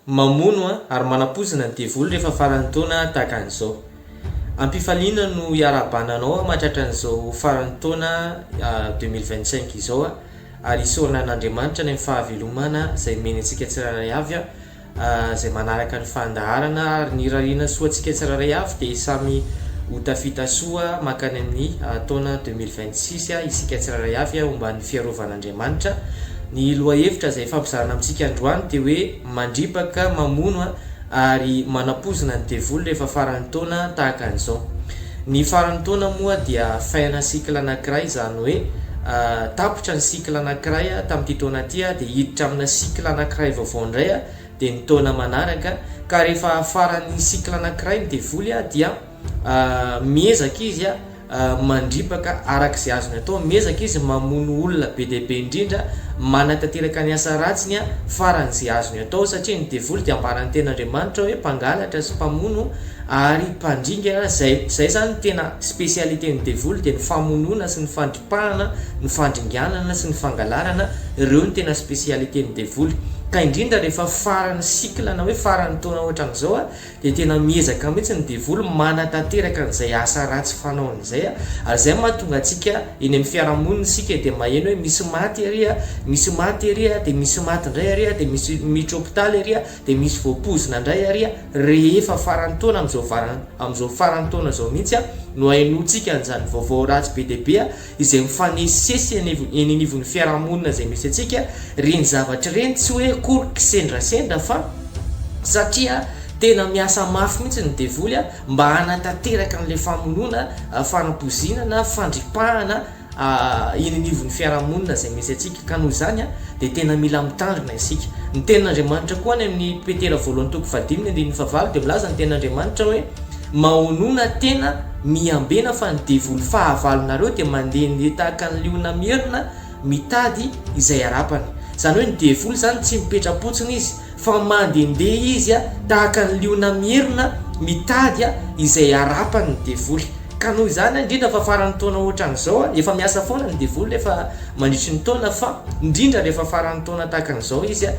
Mamono ary manapoizina ny devoly rehefa faran'ny taona tahaka an'izao. Am-pifaliana no iarahabana anao aho matratran'izao faran'ny taona deux mille vingt cinq izao ary isaorana an'Andriamanitra ny amin'ny fahavelomana izay omeny antsika tsirairay avy izay manaraka ny fandaharana ary ny irariana soa antsika tsirairay avy dia samy ho tafita soa mankany amin'ny taona deux mille vingt six isika tsirairay avy omban'ny fiarovana Andriamanitra. Ny lohahevitra izay ifampizarana amintsika androany dia hoe mandripaka, mamono ary manapoizina ny devoly rehefa faran'ny taona tahaka an'izao. Ny faran'ny taona moa dia fin-na cycle anankiray izany hoe tapitra ny cycle anankiray tamin'ity taona ity dia hiditra amina cycle anankiray vaovao indray dia ny taona manaraka ka rehefa faran'ny cycle anankiray ny devoly dia Miezaka izy mandripaka araka izay azony atao, miezaka izy mamono olona be dia be indrindra, manatanteraka ny asa ratsiny faran'izay azony atao, satria ny devoly dia ambaran'ny Tenin'Andriamanitra hoe mpangalatra sy mpamono ary mpandringana, izay izay izany tena spécialité ny devoly dia ny famonoana sy ny fandripahana, ny fandringanana sy ny fangalarana, ireo no tena spécialité ny devoly, ka indrindra rehefa faran'ny cycle na hoe faran'ny taona ohatran'izao Dia tena miezaka mihitsy ny devoly manatanteraka an'izay asa ratsy fanaony izay, ary izay no mahatonga antsika eny amin'ny fiarahamonina isika dia maheno hoe misy maty ery a, misy maty ery a, dia misy maty indray ary a, dia misy miditra hopitaly ery a, dia misy voapoizina indray ary a, rehefa faran'ny taona amin'izao amin'izao faran'ny taona izao mihitsy no ahenoantsika an'izany vaovao ratsy be dia be izay mifanesisesy eny anivon'ny fiarahamonina izay misy antsika, ireny zavatra ireny tsy hoe akory kisendrasendra fa satria tena miasa mafy mihitsy ny devoly mba hanatanteraka an'ilay famonoana, fanapoizinana, fandripahana eny anivon'ny fiarahamonina izay misy antsika ka noho izany dia tena mila mitandrina isika. Ny tenin'Andriamanitra koa any amin'ny Petera voalohany toko fahadimy ny andininy fahavalo dia milaza ny tenin'Andriamanitra hoe mahonona tena Miambena fa ny devoly fahavalonareo dia mandehandeha tahaka ny liona mierona mitady izay harapany. Izany hoe ny devoly izany tsy mipetra-potsiny izy fa mandehandeha izy tahaka ny liona mierona mitady izay harapany ny devoly. Ka noho izany indrindra fa faran'ny taona ohatran'izao, efa miasa foana ny devoly rehefa mandritry ny taona fa indrindra rehefa faran'ny taona tahaka an'izao izy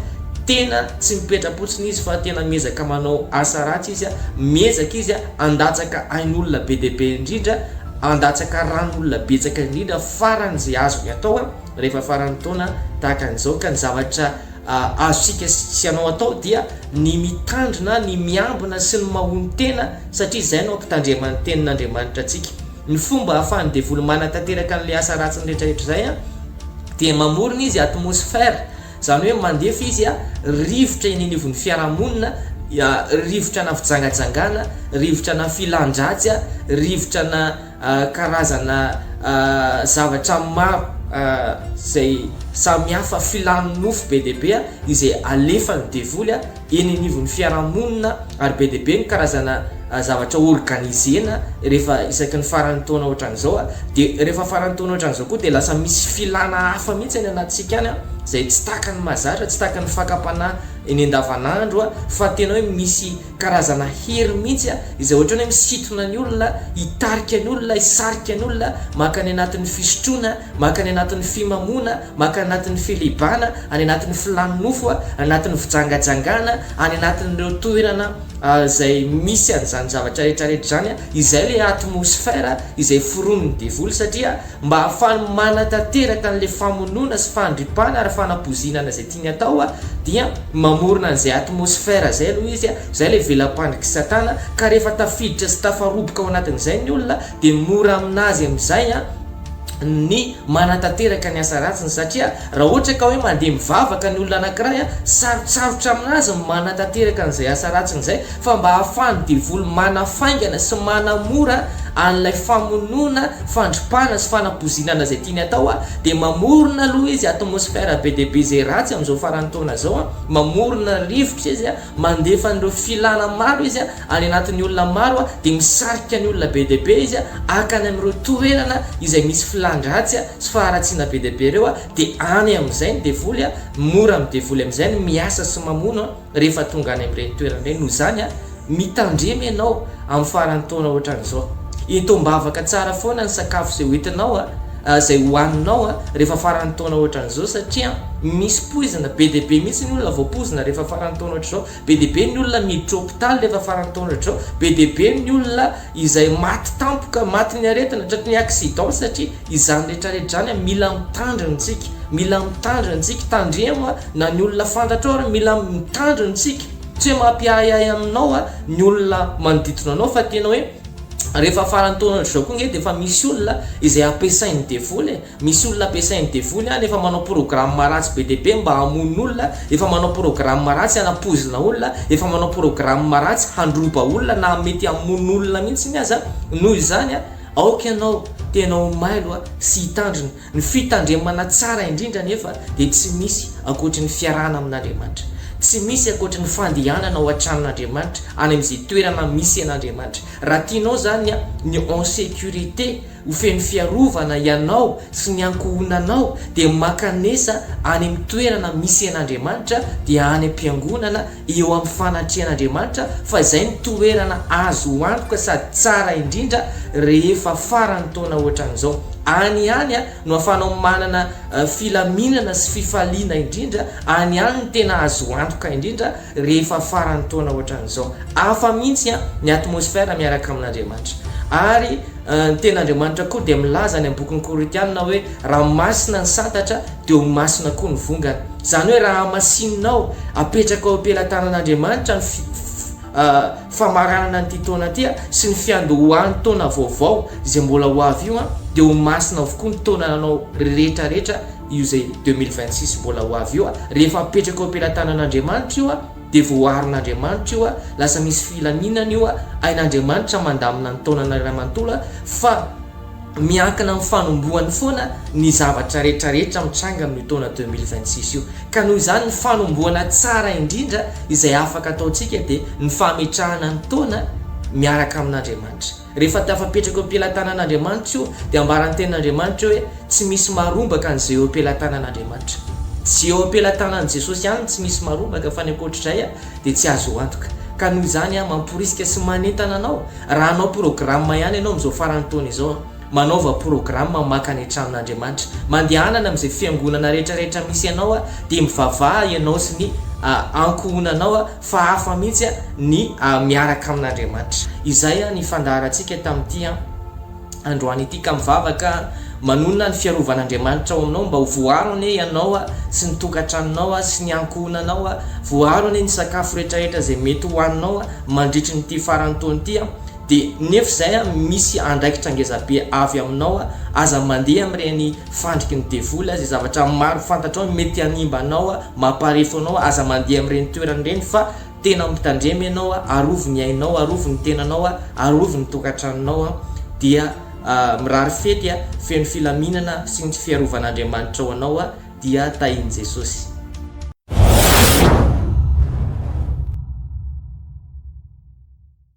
tena tsy mipetra-potsiny izy fa tena miezaka manao asa ratsy izy, miezaka izy Handatsaka ain'olona be dia be indrindra, handatsaka ran'olona betsaka indrindra farany ze azony atao a, rehefa faran'ny taona tahaka an'izao ka ny zavatra azontsika sy anao atao dia ny mitandrina, ny miambina sy ny mahonon-tena satria izay no ampitandrema ny tenin'Andriamanitra antsika. Ny fomba ahafahan'ny devoly manatanteraka an'ilay asa ratsiny rehetrarehetra izay a, dia mamorona izy atmosfera Izany hoe mandefa izy rivotra eny anivon'ny fiarahamonina, rivotrana fijangajangana, rivotrana filan-dratsy, rivotrana karazana zavatra maro izay samihafa, filan'ny nofo be dia be izay alefan'ny devoly. eny anivon'ny fiarahamonina ary be dia be ny karazana zavatra organiser-na rehefa isaky ny faran'ny taona ohatran'izao dia rehefa faran'ny taona ohatran'izao koa dia lasa misy filana hafa mihitsy any anatintsika any izay tsy tahaka ny mazatra, tsy tahaka ny fakam-panahy eny andavanandro fa tena hoe misy karazana hery mihitsy izay ohatran'ny hoe misintona ny olona, hitarika ny olona, hisarika ny olona maka any anatin'ny fisotroana, maka any anatin'ny fimamoana. Maka anatin'ny filibana, any anatin'ny filàn'ny nofo, any anatin'ny fijangajangana, any anatin'ireo toerana izay misy an'izany zavatra rehetrarehetra izany, izay ilay atmosphère izay foronin'ny devoly, satria mba hahafahany manatanteraka an'ilay famonoana sy fandripana ary fanapoizinana izay tiany atao, dia mamorona an'izay atmosphère izay aloha izy, izay ilay vela-pandrik'i Satana, ka rehefa tafiditra sy tafaroboka ao anatin'izay ny olona, dia mora aminazy amin'izay ny manatanteraka ny asa ratsiny satria raha ohatra ka hoe mandeha mivavaka ny olona anankiray, sarotsarotra aminazy ny manatanteraka an'izay asa ratsiny izay fa mba ahafahan'ny devoly manafaingana sy manamora an'ilay famonoana, fandripana sy fanapozinana izay tiany atao dia mamorona aloha izy atmosphère be dia be izay ratsy amin'izao faran'ny taona izao, mamorona rivotra izy. Mandefa an'ireo filana maro izy any anatin'ny olona maro dia misarika ny olona be dia be izy haka any amin'ireo toerana izay misy filan-dratsy sy faharatsiana be dia be ireo dia any amin'izay ny devoly, mora amin'ny devoly amin'izay ny miasa sy mamono rehefa tonga any amin'ireny toerana ireny, noho izany mitandrema ianao amin'ny faran'ny taona ohatran'izao, ento am-bavaka tsara foana ny sakafo izay hoentinao. izay hohaninao rehefa faran'ny taona ohatran'izao satria misy poizina be dia be mihitsy ny olona voapoizina rehefa faran'ny taona ohatr'izao, be dia be ny olona miditra hopitaly rehefa faran'ny taona ohatr'izao, be dia be ny olona izay maty tampoka, maty ny aretina, tratry ny accident satria izany rehetra rehetra izany an, mila mitandrina isika, mila mitandrina isika, tandremo an, na ny olona fantatrao ary mila mitandrina isika, tsy hoe mampiahiahy anao ny olona manodidina anao fa tena hoe. Rehefa faran'ny taona ohatr'izao koa nge dia efa misy olona izay ampiasain'ny devoly e! Misy olona ampiasain'ny devoly any efa manao programme ratsy be dia be mba hamono olona, efa manao programme ratsy hanapoizina olona, efa manao programme ratsy handroba olona na mety hamono olona mihitsy aza noho izany aoka ianao tena ho mailo sy hitandrina. Ny fitandremana tsara indrindra anefa dia tsy misy ankoatry ny fiarahana amin'Andriamanitra. Tsy misy ankoatry ny fandehanana ao an-tranon'Andriamanitra, any amin'izay toerana misy an'Andriamanitra. Raha tianao izany ny en sécurité, ho feno fiarovana ianao sy ny ankohonanao, dia mankanesa any amin'ny toerana misy an'Andriamanitra, dia any am-piangonana, eo amin'ny fanatrehan'Andriamanitra fa izay no toerana azo antoka sady tsara indrindra rehefa faran'ny taona ohatran'izao. Any ihany no ahafahanao manana filaminana sy fifaliana indrindra, any ihany no tena azo antoka indrindra rehefa faran'ny taona ohatran'izao. Hafa mihitsy ny atmosfera miaraka amin'Andriamanitra. Ary ny tenin'Andriamanitra koa dia milaza any amin'ny bokin'ny Korintiana hoe. Raha masina ny santatra dia ho masina koa ny vongana. Izany hoe raha hamasinao, apetrakao eo am-pelatanan'Andriamanitra ny famaranana an'ity taona ity sy ny fiandohan'ny taona vaovao izay mbola ho avy io, dia ho masina avokoa ny taonanao rehetrarehetra, io izay deux mille vingt six mbola ho avy io, rehefa apetrakao eo am-pelatanan'Andriamanitra io dia voaharin'Andriamanitra io, lasa misy filaminana io, hain'Andriamanitra mandamina ny taonana iray manontolo fa. Miankina amin'ny fanombohany foana ny zavatra rehetrarehetra mitranga amin'io taona deux mille vingt six io, ka noho izany ny fanombohana tsara indrindra izay afaka ataontsika dia ny fametrahana ny taona miaraka amin'Andriamanitra. Rehefa tafapetraka eo am-pelatanan'Andriamanitra io dia ambaran'ny tenin'Andriamanitra hoe tsy misy marombaka ny izay eo am-pelatanan'Andriamanitra. Tsy eo am-pelatanan'i Jesosy ihany ny tsy misy marombaka fa ny ankoatr'izay dia tsy azo antoka. Ka noho izany aho mamporisika sy manentana anao, raha hanao programa ihany ianao amin'izao faran'ny taona izao, manaova programa maka ny tranon'Andriamanitra. Mandehanana amin'izay fiangonana rehetrarehetra misy anao aho, dia mivavaha ianao sy ny ankohonanao fa hafa mihitsy ny miaraka amin'Andriamanitra. Izay ny fandaharantsika tamin'ity an. Androany ity ka mivavaka manonona ny fiarovan'Andriamanitra ao aminao mba ho voaro anie ianao sy ny tokantranonao sy ny ankohonanao, voaro anie ny sakafo rehetrarehetra izay mety hohaninao mandritry ny ity faran'ny taona ity dia nefa izay misy andraikitra ngezabe avy aminao aza mandeha amin'ireny fandriky ny devoly izay zavatra maro fantatrao mety hanimba anao, mampaharefo anao, aza mandeha amin'ireny toerana ireny fa Tena mitandrema ianao a, arovy ny ainao, arovy ny tenanao a, arovy ny tokantranonao a, dia mirary fety a, feno filaminana sy ny fiarovan'Andriamanitra ho anao a, dia tahin'i Jesosy.